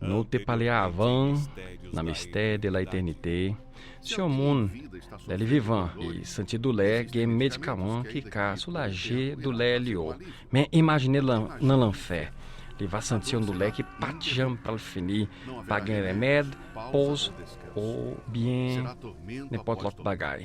Nou te pale avan, nan mistè de la etènite, si yon moun, lè li vivan, li santi doulè, gen medikaman ki ka soulaje doulè li yo. Men imajine l nan lanfè, li va santi yon doulè ki pa t janm pral fini, pa gen renmèd, poz, oubyen nenpòt lòt bagay.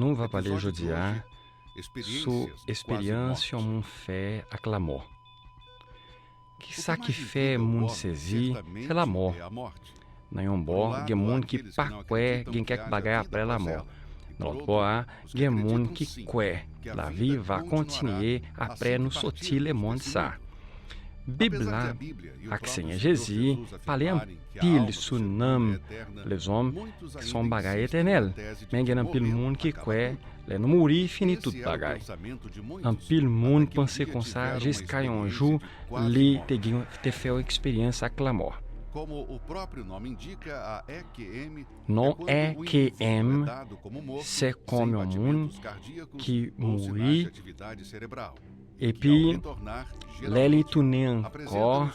Nou va pale jodi a sou esperyans yon moun fè ak lamò. Ki sa ki fè moun sezi, se lamò. Nan yon bò, gen moun ki pa kwè gen kèk bagay apre lamò. Nan lòt bò a, gen moun ki kwè lavi va kontinye apre nou soti lemonn sa a. Bib la ak Senyè Jezi pale pil sou nanm lèzòm se yon bagay etènèl men gen anpil moun ki kwè lè nou mouri fini tout bagay anpil moun panse konsa jiska yon jou li te gen te fè yon eksperyans ak lanmò non RKM se kòm yon moun ki mouri Epi, lè li tounen ankò,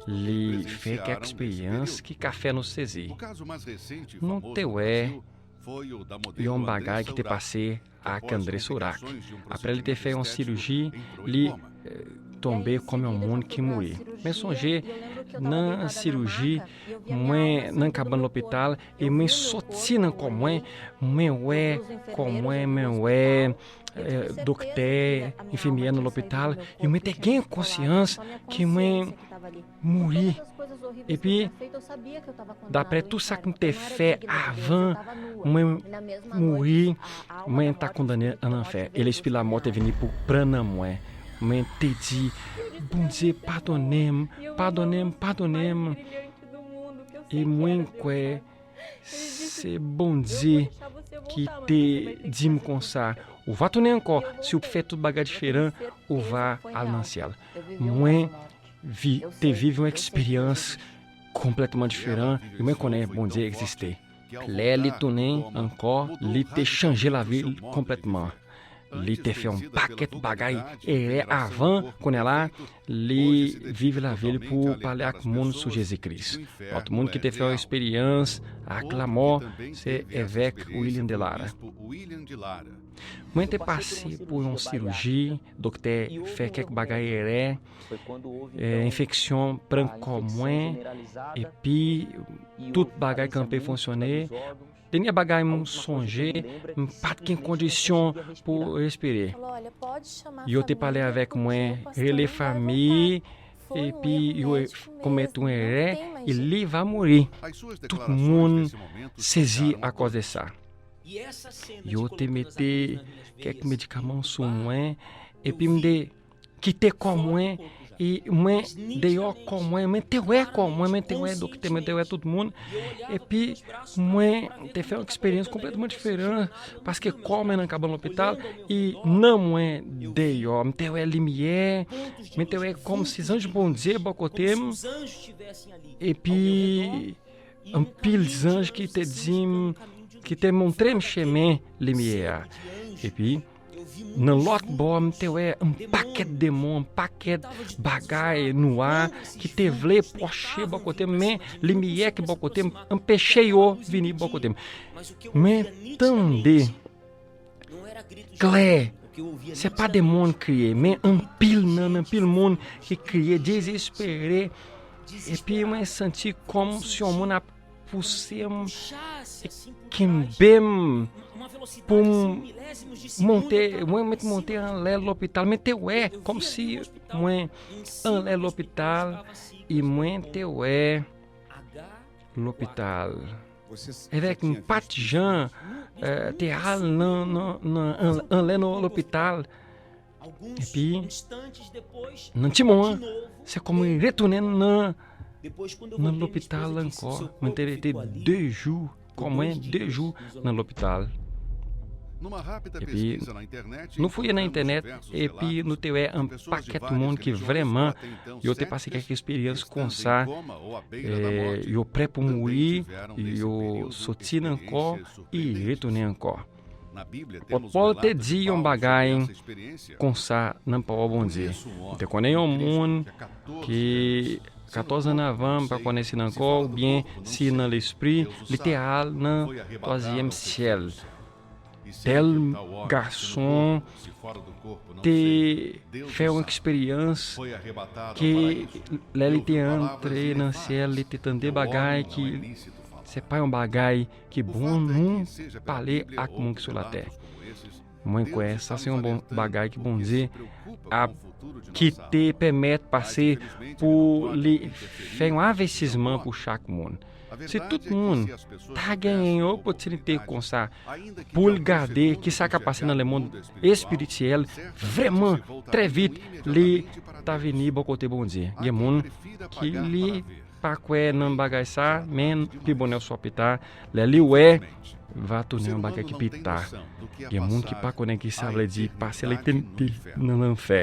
li fè kèk eksperyans ki ka fè nou sezi. Nou te wè yon bagay ki te pase ak André Sourac. Apre li te fè yon siriji, li tonbe kòm yon moun ki mouri. Men sonje, nan siriji, mwen nan kabann lopital, e mwen soti nan kò mwen, mwen wè kò mwen, mwen wè doktè, enfimyè nan lopital, e mwen te gen konsyans ki mwen mouri. E pi, dapre tou sa k mwen te fè avan mwen mouri, mwen ta kondane an anfer. E lespi la mò te vini pou pran nan mwen. Mwen te di, Bondye, padone m, padone m, padone m. E mwen kwe. Se Bondye ki te di m konsa, ou va tounen ankò, si ou fè tout bagay diferan, ou va al nan syèl. Mwen te viv yon eksperyans konplètman diferan, e mwen konnen Bondye egziste. Lè li tounen ankò, li te chanje lavi l konplètman. Li te fè yon pakèt bagay erè avan, kounye la, li viv lavi l pou pale ak moun sou Jezi Kris. Lòt moun ki te fè yon esperyans ak lamò se evèk William de Lara. Mwen te pase pou yon siruji, doktè fè kèk bagay erè, enfeksyon pran kò mwen, epi tout bagay kanpe fonsyone, Dènye bagay m sonje, m pa t gen kondisyon pou respire. Yo te pale avèk mwen, rele fanmi, epi yo pwomèt mwen rè e li va mouri. Tout moun sezi akòz de sa. Yo te mete kèk medikaman sou mwen epi m te. Kite kò mwen e mwen deyò kò mwen, mwen te wè kò mwen, mwen te wè doktè, mwen te wè tout moun. Epi mwen te fè yon eksperyans konplètman diferan paske kò mwen nan kabann lopital e nanm mwen deyò. Mwen te wè limyè, mwen te wè kòmsi zanj Bondye bò kote m. Epi anpil zanj ki te di m, ki te montre m chemen limyè a. Nan lòt bò, m te wè yon pakèt demon, yon pakèt bagay nwa ki te vle pwoche bò kote m, men limyè ki bò kote m anpeche yo vini bò kote m. Men tande klè, se pa demon ki kriye, men anpil nan anpil moun ki kriye dezespere, epi mwen santi kòm si yon moun ap. pouse m e kenbe m pou m monte, mwen met monte anlè lopital, men te wè, kom si mwen anlè lopital, e mwen te wè lopital. Evèk m pat jan te al nan anlè lopital. Epi, nan ti mou an, se kon mwen retounen nan nan lopital ankò. Mwen te rete 2 jou, kon mwen 2 jou nan lopital. Epi, nou fouye nan entènèt, epi nou te wè an pakèt moun ki vrèman yo te pase kèk esperyans konsa, yo prè pou mouri, yo soti nan kò, e yo retounen ankò. Apot Pòl te di yon bagay konsa nan pawòl Bondye, M te konnen yon moun ki, katòz ane avan, m pa konnen si nan kò oubyen si nan lespri, li te al nan twazyèm syèl. Tèl gason te fè yon eksperyans ke lè li te antre nan syèl, li te tande bagay ki se pa yon bagay Ke bon nou pale ak moun ki sou latè. Mwen kwè sa se yon bon bagay ki Bondye ap kite pèmèt pase pou li fè yon avètisman pou chak moun. Si tout moun ta genyen yon opotinite konsa pou l gade ki sa ka pase nan le mond espirityèl, vrèman trè vit li ta vini bò kote Bondye. Gen moun ki li pa kwè nan bagay sa men pi bonè oswa pi ta lè li wè va tounen yon bagay ki pi ta gen moun ki pa konnen ki sa vle di pase lètènite nan lanfè.